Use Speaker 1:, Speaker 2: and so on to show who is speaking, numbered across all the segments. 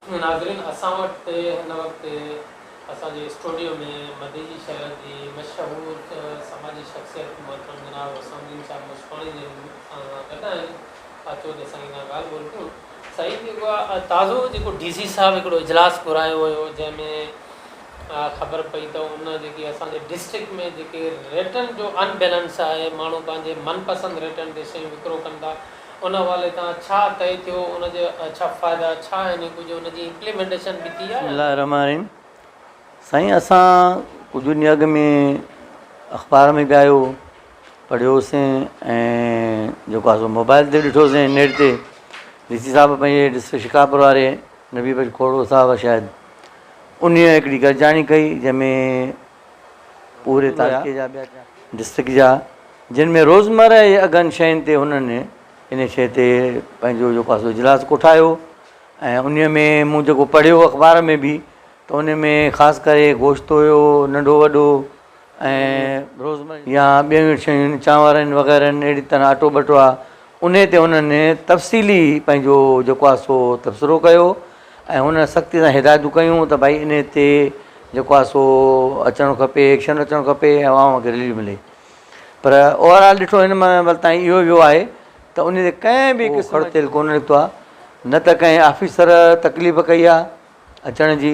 Speaker 1: ناظرين اسان وٽ هن وقت اسان جي اسٽوڊيو ۾ مديجي شهر جي مشهور سماجي شخصيت محترم جناب حسام الدين شاهه مشڪاڻي جن اسان سان گڏ آهن اچو ته سائين سان ڳالهه ٻولهه ڪيون سائين جيڪو آهي تازو جيڪو ڊي سي صاحب هڪڙو اجلاس گهرايو هيو جنهن ۾ خبر پئي ته ان جيڪي اسان جي ڊسٽرڪٽ ۾ جيڪي ريٽن جو ان بيلنس آهي ماڻهو پنهنجي من پسند ريٽن تي شيون وڪرو ڪن ٿا ان حوالي تان ڇا طئي ٿيو، ان جا ڇا فائدا ڇا آهن ۽ ڪجهه ان جي امپليمينٽيشن به ٿي يا
Speaker 2: نه؟ بسم الله الرحمن الرحيم سائين اسان ڪجهه ڏينهن اڳ ۾ اخبار ۾ به آيو پڙهيو سين ۽ جيڪو آسو موبائل تي ڏٺو سين نيٽ تي ڊي سي صاحب پنهنجي ڊسٽرڪٽ شڪارپور واري نبي بخش کوڙو صاحب شايد انهي هڪڙي گڏجاڻي ڪئي جنهن ۾ پوري تعلقي جا ٻيا ڊسٽرڪٽ جا جن ۾ روزمره جي اگهن شين تي هنن ان شيء تي پنهنجو جيڪو آسو اجلاس ڪوٺايو ۽ ان ۾ مون جيڪو پڙهيو اخبار ۾ به ته ان ۾ خاص ڪري گوشت هيو ننڍو وڏو ۽ روزمره جي يا ٻين شين چانور آهن وغيره آهن اهڙي طرح اٽو ٻٽو آهي ان تي هنن تفصيلي پنهنجو جيڪو آسو تبصرو ڪيو ۽ هن سختي سان هدايتون ڪيون ته ڀائي انهي تي جيڪو آهي سو اچڻو کپي ايڪشن اچڻو کپي ۽ عوام کي رليف ملي پر اوور آل ڏٺو هن مهل تائين اهو ويو آهي ته انهي تي ڪنهن به قسم جو تيل ڪونه نڪتو آهي نه ته ڪنهن آفيسر تڪليف ڪئي آهي اچڻ جي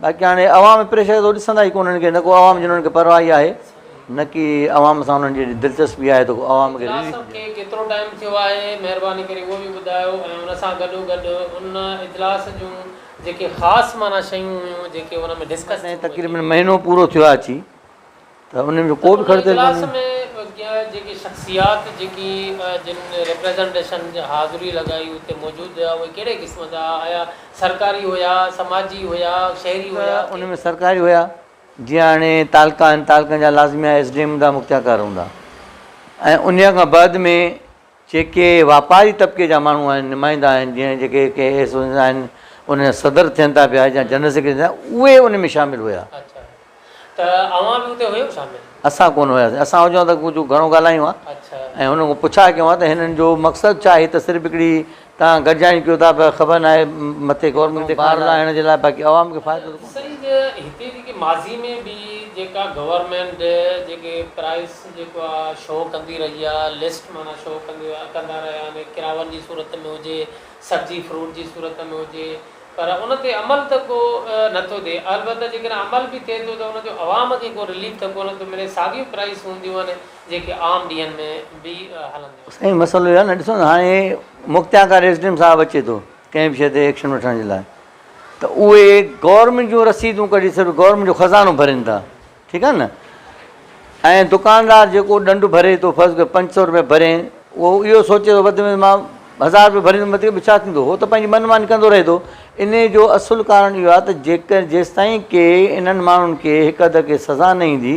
Speaker 2: باقي هاڻي عوام پريشر ته ڏسندا ئي ڪونهن ڪي نه ڪو عوام جي انهن کي پرواهه ئي آهي نه ڪي عوام سان انهن جي ايڏي دلچسپي آهي ته ڪو عوام کي اجلاس کي ڪيترو ٽائيم
Speaker 1: ٿيو آهي مهرباني ڪري اهو به ٻڌايو ۽ ان سان گڏو گڏ ان اجلاس جون جيڪي خاص معنيٰ شيون هيون جيڪي ان ۾ ڊسڪس ٿيون. تقريبن مهينو
Speaker 2: پورو ٿيو آهي اچي. ته انهن جو ڪو به خرچ ڪونهي. ان اجلاس ۾
Speaker 1: جيڪي شخصيات جيڪي جن ريپريزنٽيشن حاضري لڳائي اتي موجود هيا اهي ڪهڙي قسم جا ها آيا سرڪاري هيا سماجي هيا شهري هيا ته ان ۾ سرڪاري هيا
Speaker 2: جيئن هاڻي تعلقا آهن تعلقن جا لازميا ايس ڊي ايم هوندا مختيارڪار هوندا ۽ انهيء کان بعد ۾ جيڪي واپاري طبقي جا ماڻهو آهن، نمائندا آهن، جيئن جيڪي ڪي ايس او ايز آهن، ان جا صدر ٿين ٿا پيا يا جنرل سيڪريٽري ٿين ٿا، اهي ان ۾ شامل هيا. اڇا ته
Speaker 1: اوهان به اتي هيو شامل؟ اسان ڪونه هياسين،
Speaker 2: اسان هجون ها ته ڪجهه گهڻو ڳالهايون ها ۽ هنن کان پڇا ڪيون ها ته هنن جو مقصد ڇا آهي ته صرف هڪڙي تان گڏجاڻي ڪيو ٿا پر خبر ناهي مٿي گورنمينٽ تي ڪار لاهڻ جي لاء باقي عوام کي فائدو ته ڪو نه سائين هتي
Speaker 1: جيڪي ماضي ۾ به جيڪا گورنمينٽ جيڪي پرائس جيڪو آ شو ڪندي رهي آ لسٽ معنيٰ شو ڪندي ڪندا رهيا آهن ڪراون جي صورت ۾ هجي سبزي فروٽ جي صورت ۾ هجي پر ان تي عمل ته ڪو نه ٿو ٿئي البته جيڪڏهن عمل به ٿئي ٿو ته ان جو عوام کي ڪو رليف ته ڪو نه ٿو ملي ساڳيون پرائس هونديون آهن جيڪي عام ڏينهن ۾ به هلنديون. سائين مسئلو اهو آهي نه
Speaker 2: ڏسو نه هاڻي Mukhtiar Khan S D M صاحب اچي ٿو ڪنهن به شيء تي ايڪشن وٺڻ جي لاء ته اهي گورنمينٽ جون رسيدون ڪڍي صرف گورنمينٽ جو خزانو ڀرين ٿا ٺيڪ آهي نه ۽ دڪاندار جيڪو ڏنڊ ڀري ٿو فرض ڪيو پنج سؤ روپيا ڀرين اهو اهو سوچي ٿو وڌ ۾ مان هزار روپيا ڀريندم وڌيڪ به ڇا ٿيندو هو ته پنهنجي من ماني ڪندو رهي ٿو ان جو اصل ڪارڻ اهو آهي ته جيڪر جيستائين ڪي انهن ماڻهن کي هڪ اڌ کي سزا نه ايندي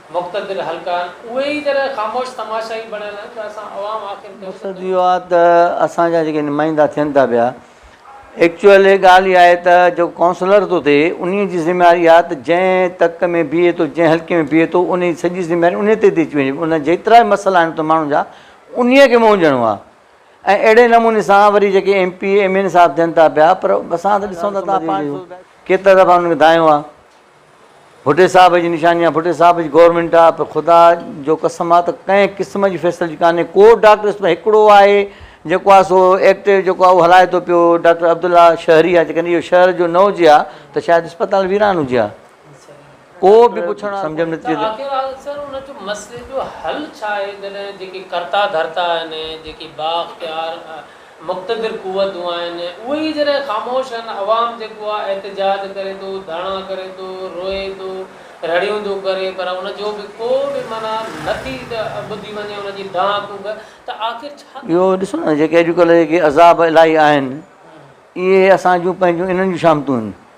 Speaker 1: مقتدر حلقائن اهي ئي جڏهن خاموش تماشائي بڻيل آهن ته اسان عوام آخر ڪيون
Speaker 2: ٿا مقصد اهو آهي ته اسان جا جيڪي نمائندا ٿين ٿا پيا ايڪچوئل هي ڳالهه ئي آهي ته جيڪو ڪائونسلر ٿو ٿئي انهي جي ذميواري آهي ته جنهن تڪ ۾ بيهي ٿو جنهن حلقي ۾ بيهي ٿو انهي جي سڄي ذميواري انهي تي ٿي اچي وڃي ان جيترا به مسئلا آهن اتي ماڻهن جا انهي کي مونجهڻو آهي ۽ اهڙي نموني سان وري جيڪي M P M N A صاحب ٿين ٿا پيا پر اسان ته ڏسون ٿا ته ڪيترا دفعا انهن کي دانهيو آهي ڀٽي صاحب جي نشاني آ ڀٽي صاحب جي گورنمينٽ آ پر خدا جو قسم آ ته ڪنهن قسم جي فيسلٽي ڪانهي ڪو ڊاڪٽر اسٽ هڪڙو آهي جيڪو آ سو ايڪٽيو جيڪو آ اهو هلائي ٿو پيو ڊاڪٽر عبدالله شهري آ جيڪڏهن اهو شهر جو نه هجي ها ته شايد اسپتال ويران هجي ها ڪو به پڇڻ وارو سمجهه ۾ نه ٿي اچي ته آخر سر ان جو
Speaker 1: مسئلي جو حل ڇا آهي جڏهن جيڪي ڪرتا ڌرتا آهن جيڪي با اختيار مقتدر قوتون آهن اهي ئي جڏهن خاموش آهن عوام جيڪو آهي احتجاج ڪري ٿو ڌرڻا ڪري ٿو روئي ٿو رڙيون ٿو ڪري پر ان جو به ڪو به معنيٰ نه ٿي ٻڌي وڃي ان جي دانهن ڪوڪ ته آخر ڇا ٿي اهو ڏسو نه جيڪي
Speaker 2: اڄڪلهه جيڪي عذاب الاهي آهن اهي اسان جون پنهنجون انهن جون شامتون آهن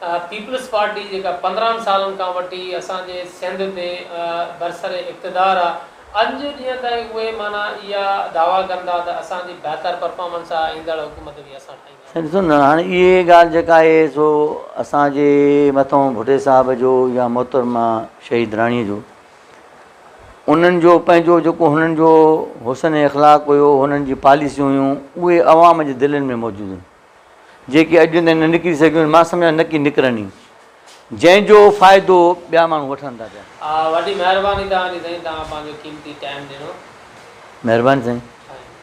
Speaker 1: پيپلز پارٽي جيڪا پندرهن سالن کان وٺي اسان جي سنڌ تي برسر اقتدار آ اڄ جي ڏينهن تائين اهي معنيٰ اها دعويٰ ڪن ٿا ته اسان جي بهتر پرفارمنس آ ايندڙ حڪومت به اسان ٺاهيندا. سائين ڏسو نه هاڻي اهي
Speaker 2: ڳالهه جيڪا آهي سو اسان جي مٿئون ڀٽي صاحب جو يا محترمه شهيد راڻي جو انهن جو پنهنجو جيڪو هنن جو حسن اخلاق هيو هنن جي پاليسيون هيون اهي عوام جي دلين ۾ موجود هيون جيڪي اڄ نه نڪري سگهيون، مان سمجهان نه ڪي نڪرن ئي، جنهن جو فائدو ٻيا ماڻهو وٺن ٿا پيا. وڏي مهرباني توهان جي
Speaker 1: سائين توهان پنهنجو قيمتي ٽائيم ڏنو. مهرباني سائين.